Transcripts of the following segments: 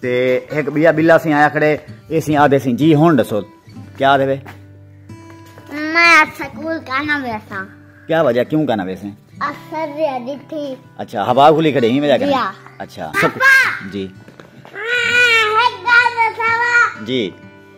تے ہک بیا بلا سیں آیا کھڑے اے سیں آدھے سیں جی ہن دسو کیا دے وے میں سکول کانا ویسا کیا وجہ کیوں کانا ویسے اثر دے دی تھی اچھا ہوا کھلی کھڑے ہی وجہ کرے اچھا جی ہاں ہک گل دسوا جی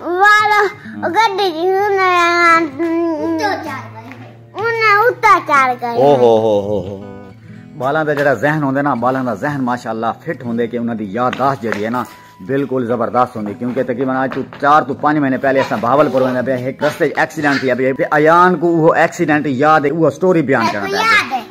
والو گڈی دی انہاں اتا چار گئے او ہو ہو ہو ہو بالاں دا جڑا ذہن ہوندے نا بالاں دا ذہن ماشاءاللہ فٹ ہوندے کہ انہاں دی یادداشت جڑی ہے نا بالکل زبردست ہوندی کیونکہ تقریبا اج تو 4 تو 5 مہینے پہلے اساں بہاول پور ویندا پیا ایک رستے ایکسیڈنٹ تھی ابھی ایان کو وہ ایکسیڈنٹ یاد ہے وہ سٹوری بیان کرنا پیا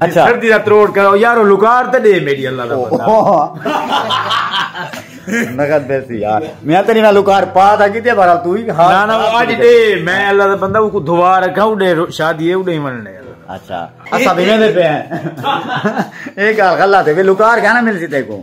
اچھا سردی دا تروڑ کرو یارو لکار تے دے میری اللہ دا بندہ نگت بیسی یار میں تیری نہ لکار پا تھا کیتے بھرا تو ہی ہاں نہ نہ اج دے میں اللہ دا بندہ کو دھوا رکھا او دے شادی ہے او دے مننے اچھا اسا بھی میں دے پے ہیں ایک گل غلط ہے لکار کہنا مل سی تے کو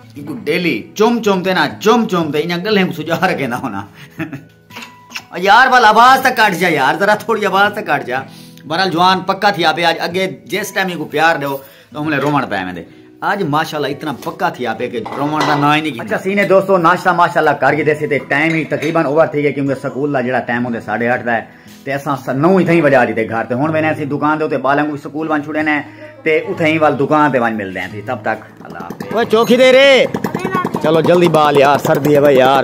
اینکوں ڈیلی چم چم تے نا جم جم تے انہاں گلیں کو سجا رکھیندا ہونا یار بل آواز تک کٹ جا یار ذرا تھوڑی آواز تک کٹ جا برال جوان پکا تھی آپے آج اگے جس ٹائم کو پیار دیو تو ہم نے رومن پہ میں دے آج ماشاءاللہ اتنا پکا تھی آپے کہ رومن دا نہ ہی نہیں اچھا سینے دوستو ناشتہ ماشاءاللہ کر کے دے سی تے ٹائم ہی تقریبا اوور تھی گئے کیونکہ سکول دا جڑا ٹائم ہوندے 8:30 دا ہے تے اساں سنوں اتھائیں وجا ڈیتے گھر تے ہن وینے اسی دکان دے اتے بالیں کو سکول ون چھڑے نے تے اتھائیں وال دکان تے ون ملدے ہیں تھی تب تک اللہ حافظ اوے چوکھی دے رے چلو جلدی بال یار سردی ہے بھائی یار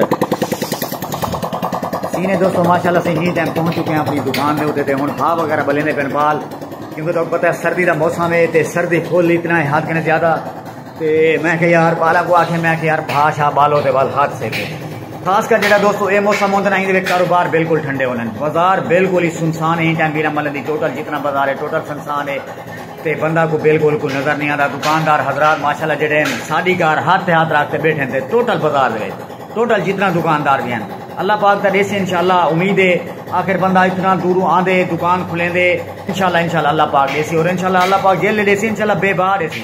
سینے دوستو ماشاءاللہ سے ہی ٹائم پہنچ چکے ہیں اپنی دکان دے اتے تے ہن بھا وغیرہ بلیں دے پن بال کیونکہ تو پتہ ہے سردی دا موسم ہے تے سردی پھول اتنا ہے ہاتھ کنے زیادہ تے میں کہ یار بالا کو آکھے میں کہ یار بھا شا بالو تے بال ہاتھ سے کے خاص کر جڑا دوستو اے موسم ہوندے نہیں دے کاروبار بالکل ٹھنڈے ہوندے بازار بالکل ہی سنسان ہے ٹائم بیرا ملن دی ٹوٹل جتنا بازار ہے ٹوٹل سنسان ہے تے بندہ کو بالکل کوئی نظر نہیں آتا دکاندار حضرات ماشاءاللہ جڑے ہیں ساڈی گار ہاتھ تے ہاتھ رکھتے بیٹھے ہیں ٹوٹل بازار دے ٹوٹل جتنا دکاندار بھی ہیں اللہ پاک تر ایسے انشاءاللہ امید ہے آخر بندہ اتنا دوروں آن دے دکان کھلیں دے انشاءاللہ انشاءاللہ اللہ پاک ایسے اور انشاءاللہ اللہ پاک جیل لے ایسے انشاءاللہ بے بار ایسے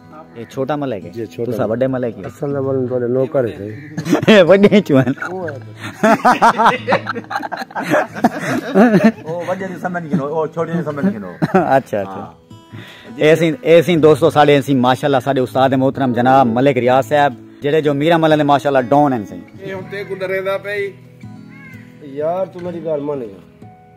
اے چھوٹا ملک ہے تسا وڈے ملک ہے اصل نمبر ان تواڈے نوکر ہے اے وڈے چوں ہیں او وڈے دی سمجھ گنو او چھوٹے دی سمجھ گنو اچھا اچھا ایسی ہاں۔ ایسی دوستو ساڈے ایسی ماشاءاللہ ساڈے استاد محترم جناب ملک ریاض صاحب جڑے جو میرا ملک نے ماشاءاللہ ڈون ہیں سی اے ہن تے کو ڈرے دا پئی یار تو میری گل مان گیا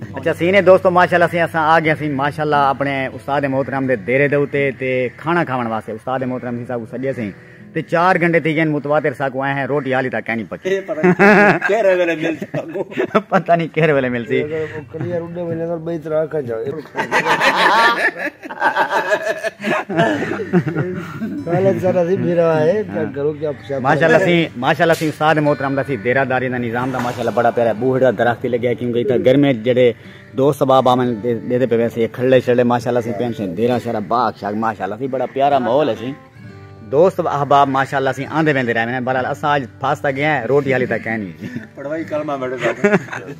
اچھا سینے دوستو ماشاءاللہ سے اساں آ گیا سین ماشاءاللہ اپنے استاد محترم دے دیرے دے اوتے تے کھانا کھاون واسطے استاد محترم ہی صاحب سجے سین تے چار گھنٹے تھی گئے متواتر سا کو آئے ہیں روٹی حالی تک کہنی پکی پتہ نہیں کہر ویلے مل سی ماشاءاللہ سی ماشاءاللہ سی استاد محترم دا سی دیرہ داری دا نظام دا ماشاءاللہ بڑا پیارا بوہڑ دا درخت لگیا ہے کیونکہ اتنا گرمی جڑے دوست سباب آمن دے دے پہ ویسے کھلے شلے ماشاءاللہ سی پین سے دیرہ شرہ باغ شاک ماشاءاللہ سی بڑا پیارا ماحول ہے سی دوست احباب ماشاءاللہ سی آندے بیندے رہے ہیں بلال اساج پھاستا گیا ہے روٹی حالی تک کہنی پڑھوائی کلمہ میڈے ساتھ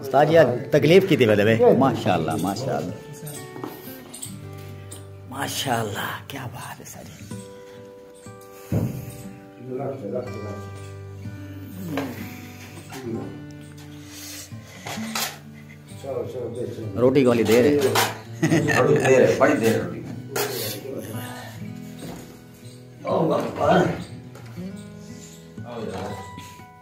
استاد یار تکلیف کیتی بدے وے ماشاءاللہ ماشاءاللہ ماشاءاللہ کیا بات ہے ساری روٹی گولی دے رہے بڑی دے رہے روٹی Oh, my God.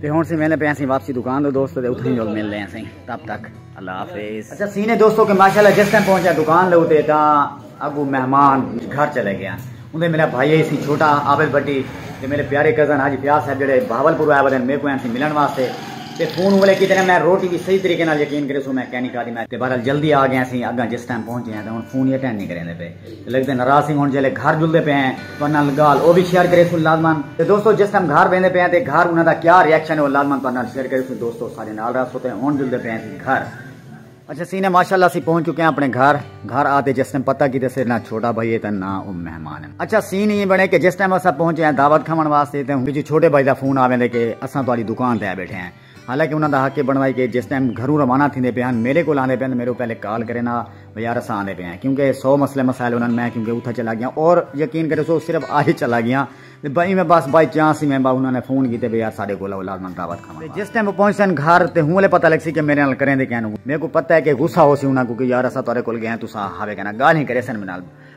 تے ہن سی ویندے پے اسی واپسی دکان دے دوستو تے اتھے جول مل لے اسی تب تک اللہ حافظ اچھا سینے دوستو کہ ماشاءاللہ جس ٹائم پہنچا دکان لے تے تاں اگو مہمان گھر چلے گیا اندے میرا بھائی ہے سی چھوٹا عابد بٹی تے میرے پیارے کزن حاجی پیاس صاحب جڑے بہاول پور آئے ودے میرے کو سی ملن واسطے تے فون والے کیتے میں روٹی بھی صحیح طریقے نال یقین کرے سو میں کہنی کھا دی میں تے بہرحال جلدی آ گیا سی اگا جس ٹائم پہنچے ہیں تے ہن فون یقین نہیں کرے دے پے لیکن دن ناراض تھیں ہن جیلے گھر جلدے پے ہیں تو انہاں گال او بھی شیئر کرے سن لازمان تے دوستو جس ٹائم گھر ویندے پے ہیں تے گھر انہاں دا کیا ری ایکشن ہے او لازمان تو انہاں شیئر کرے سن دوستو سارے نال رہا سو تے ہن جلدے پے ہیں سی گھر اچھا سینے ماشاءاللہ سی پہنچ چکے ہیں اپنے گھر گھر آتے جس ٹائم پتہ کی تے سر نہ چھوٹا بھائی ہے تے نہ او مہمان ہیں اچھا سین یہ بنے کہ جس ٹائم اسا پہنچے ہیں دعوت کھاون واسطے تے ہن جی چھوٹے بھائی دا فون آویں دے کہ اساں تہاڈی دکان تے آ بیٹھے ہیں حالانکہ انہاں دا حق اے بݨوائی کہ جس ٹائم گھروں روانہ تھیندے پئے ہن میݙے کول آندے پئے ہن تاں میݙوں پہلے کال کرن آ بھئی یار اساں آندے پئے آں کیونکہ سو مسئلے مسائل ہونن میں کیونکہ اتھاں چلا ڳیاں اور یقین کرے سو صرف آج چلا ڳیاں تے بہ ایویں بس بائی چانس ایویں بہ انہاں نے فون کیتے بھئی یار ساݙے کول آؤ لازمن دعوت کھاوݨ واسطے جس ٹائم او پہنچسن گھر تے ہوں لے پتہ لڳسی کہ میݙے نال کریندے کیوں میکوں پتہ اے کہ غصہ ہوسی انہاں کوں کہ یار اساں تہاݙے کول ڳئے ہاں تساں ہاوے کنا ڳالھیں کریسن میݙے نال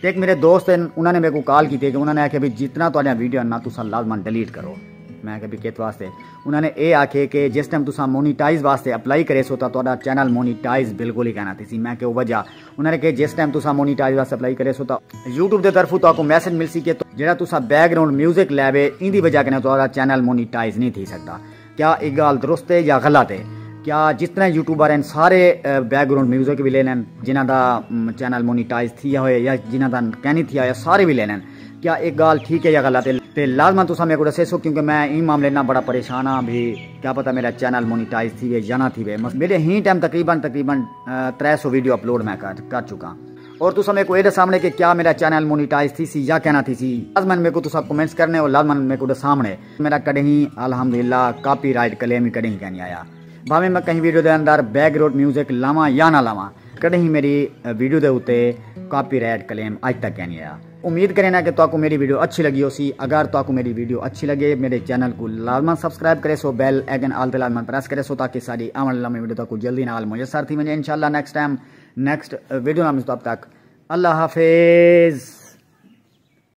تے ہک میڈے دوست ہن انہاں نے میکوں کال کیتی کہ انہاں نے آکھیا بھئی جتنا تہاڈیاں ویڈیو ہن نا تساں لازما ڈلیٹ کرو میں آکھیا بھئی کت واسطے انہاں نے اے آکھے کہ جس ٹائم تساں مونیٹائز واسطے اپلائی کریسو تاں تہاڈا چینل مونیٹائز بالکل ہی کائنا تھیسی میں کیوں وجہ انہاں نے کہ جس ٹائم تساں مونیٹائز واسطے اپلائی کریسو تاں یوٹیوب دے طرفوں تہاکوں میسج ملسی کہ جیڑھا تساں بیک گراؤنڈ میوزک لائے وے ایندی وجہ کنے تہاڈا چینل مونیٹائز نہیں تھی سکدا۔ کیا اے گالھ درست اے یا غلط اے۔ کیا جس طرح یوٹیوبر ہن سارے بیک گراؤنڈ میوزک وی لیندے ہن جنہاں دا چینل مونیٹائز تھیا ہوئے یا جنہاں دا کینی تھیا ہوئے سارے وی لیندے ہن کیا اے گالھ ٹھیک اے یا غلط اے تے لازما تساں میکوں ڈسیسو کیونکہ میں ایں معاملے نال بڑا پریشان ہاں بھئی کیا پتہ میڈا چینل مونیٹائز تھیوے یا نہ تھیوے میڈے ہیں ٹائم تقریبا تقریبا ترے سو ویڈیو اپلوڈ میں کر چکاں اور تساں میکوں اے ڈسامنے کہ کیا میڈا چینل مونیٹائز تھیسی یا کینہ تھیسی لازما میکوں تساں کمنٹس کرنے اور لازما میکوں ڈسامنے۔ میڈا کڈہیں الحمدللہ کاپی رائٹ کلیم وی کڈہیں کینی آیا بھاویں میں کہیں ویڈیو دے اندر بیک گراؤنڈ میوزک لاواں یا نہ لاواں کڈہیں میڈی ویڈیو دے اتے کاپی رائٹ کلیم اج تک کینی آیا امید کرینا کہ تواکوں میڈی ویڈیو اچھی لگی ہو سی اگر تواکوں میڈی ویڈیو اچھی لگے میڈے چینل کو لازمن سبسکرائب کرے سو بیل ایگن آل تے لازمن پریس کرے سو تاکہ ساری آن والی لمبی ویڈیو تاکو جلدی نال میسر تھی ونجے انشاءاللہ نیکسٹ ٹائم نیکسٹ ویڈیو نال مستب تک اللہ حافظ